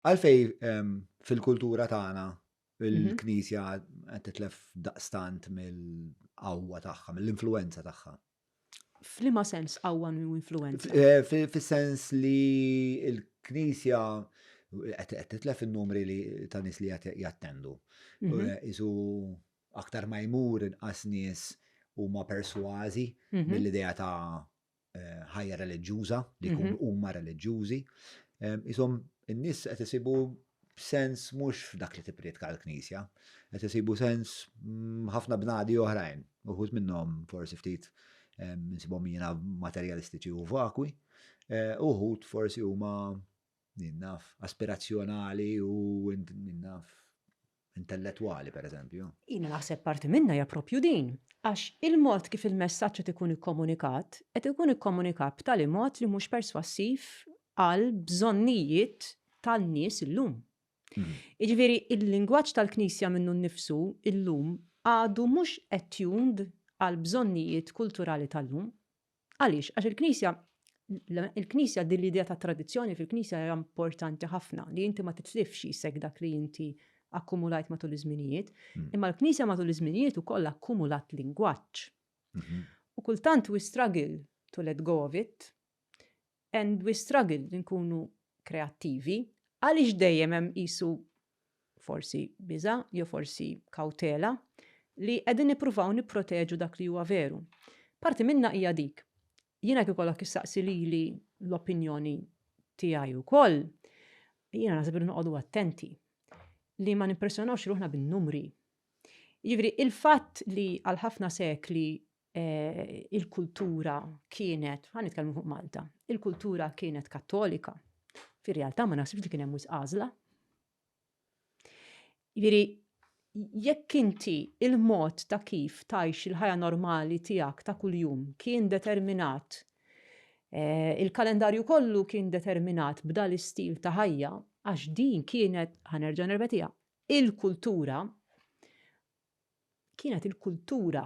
Għalfej fil-kultura tagħna il-Knisja qed titlef daqstant mill-qawwa tagħha, mill-influenza tagħha. F'liema sens qawwa u influenza? Eh, fis-sens li l-Knisja qed titlef in-numri li ta' nies li qed jattendu. Mhm. Eh, isu aktar ma jmur inqas nies huma persważi mhm. mill-idea ta' ħajja reliġjuża, li mhm. jkunu huma reliġjużi. Isom, in-nies qed isibu sens mhux f'dak li tipprietka l-Knisja, qed isibu sens mm, ħafna bnadi oħrajn, uħud minnhom forsi ftit nsibhom jiena materjalistiċi u vakwi, eh, uħud forsi huma Min naf, aspirazzjonali u min naf, intellettwali, pereżempju. Jiena naħseb parti minnha hija proprju din, għax il-mod kif il-messaġġ qed ikun ikkomunikat, qed ikun ikkomunikat b'tali mod li mhux perswassiv għall-bżonnijiet tan-nies illum. Jiġifieri l-lingwaġġ tal-Knisja minnu nnifsu illum għadu mhux attuned għall-bżonnijiet kulturali tal-lum. Għaliex? Għax il-Knisja il-Knisja din l-idea ta' tradizzjoni fil-Knisja hija importanti ħafna li inti ma titlifx jisek dak li inti akkumulajt matul iż-żminijiet, hmm. imma l-Knisja matul iż-żminijiet ukoll akkumulat lingwaġġ. Mhm. U kultant we struggle to let go of it, and we struggle li nkunu kreattivi, għaliex dejjem hemm qisu forsi biża' jew forsi kawtela li qegħdin nippruvaw nipproteġu dak li huwa veru. Parti minnha hija dik. Jiena kif ikollok issaqsi lili l-opinjoni tiegħi wkoll, jiena naħseb li noqogħdu attenti li ma nimpressjonawx ruħna bin-numri. Jiġifieri il-fatt li għal ħafna sekli il-kultura kienet, ħa nitkellmu fuq Malta, il-kultura kienet kattolika, fir-realtà ma naħsibx li kien hemm għażla. Jiġifieri jekk inti il-mod ta' kif tajx il-ħajja normali tiegħek ta' kuljum kien determinat eh, il-kalendarju kollu kien determinat b'dan l-istil ta' ħajja għax din kienet ħanerġa' nerbetija il-kultura kienet il-kultura,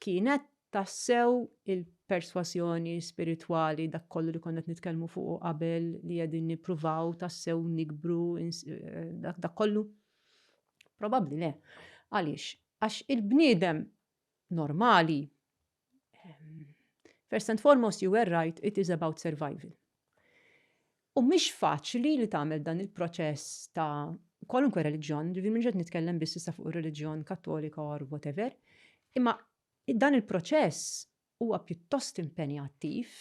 kienet tassew il-persważjoni spiritwali dak kollu li konna qed nitkellmu fuq qabel li qegħdin nippruvaw tassew nikbru eh, dak kollu. Probabbli le. Għaliex? Għax il-bniedem normali First and foremost, you were right, it is about survival. U mhix faċli li tagħmel dan il-proċess ta' kwalunkwe reliġjon, ġifieri minn ġed nitkellem biss issa fuq ir-reliġjon kattolika or whatever, imma dan il-proċess huwa pjuttost impenjattiv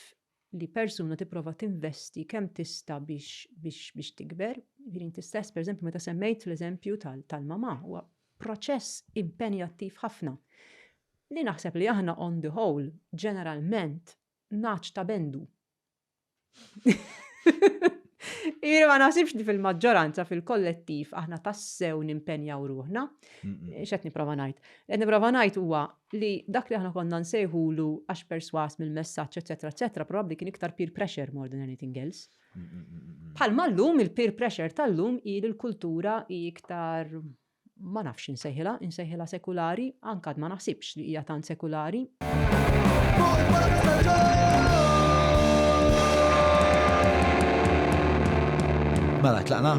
li persuna tipprova tinvesti kemm tista' biex biex biex tikber, jiġifieri inti stess pereżempju meta semmejt l-eżempju tal tal-mamà huwa proċess impenjattiv ħafna li naħseb li aħna on the whole ġeneralment nagħaġ ta' bendu. Jiġifieri ma naħsibx li fil-maġġoranza fil-kollettiv aħna tassew nimpenjaw ruħna. X'qed nipprova ngħid? Qed nipprova ngħid huwa li dak li aħna konna nsejħulu għax persważ mill-messaġġ eċċetera eċċetera probabbli kien iktar peer pressure more than anything else. Bħalma llum il-peer pressure tal-lum hi li l-kultura hi iktar ma nafx insejħilha, insejħilha sekulari, anke għad ma naħsibx li hija tant sekulari. Mela tlaqna.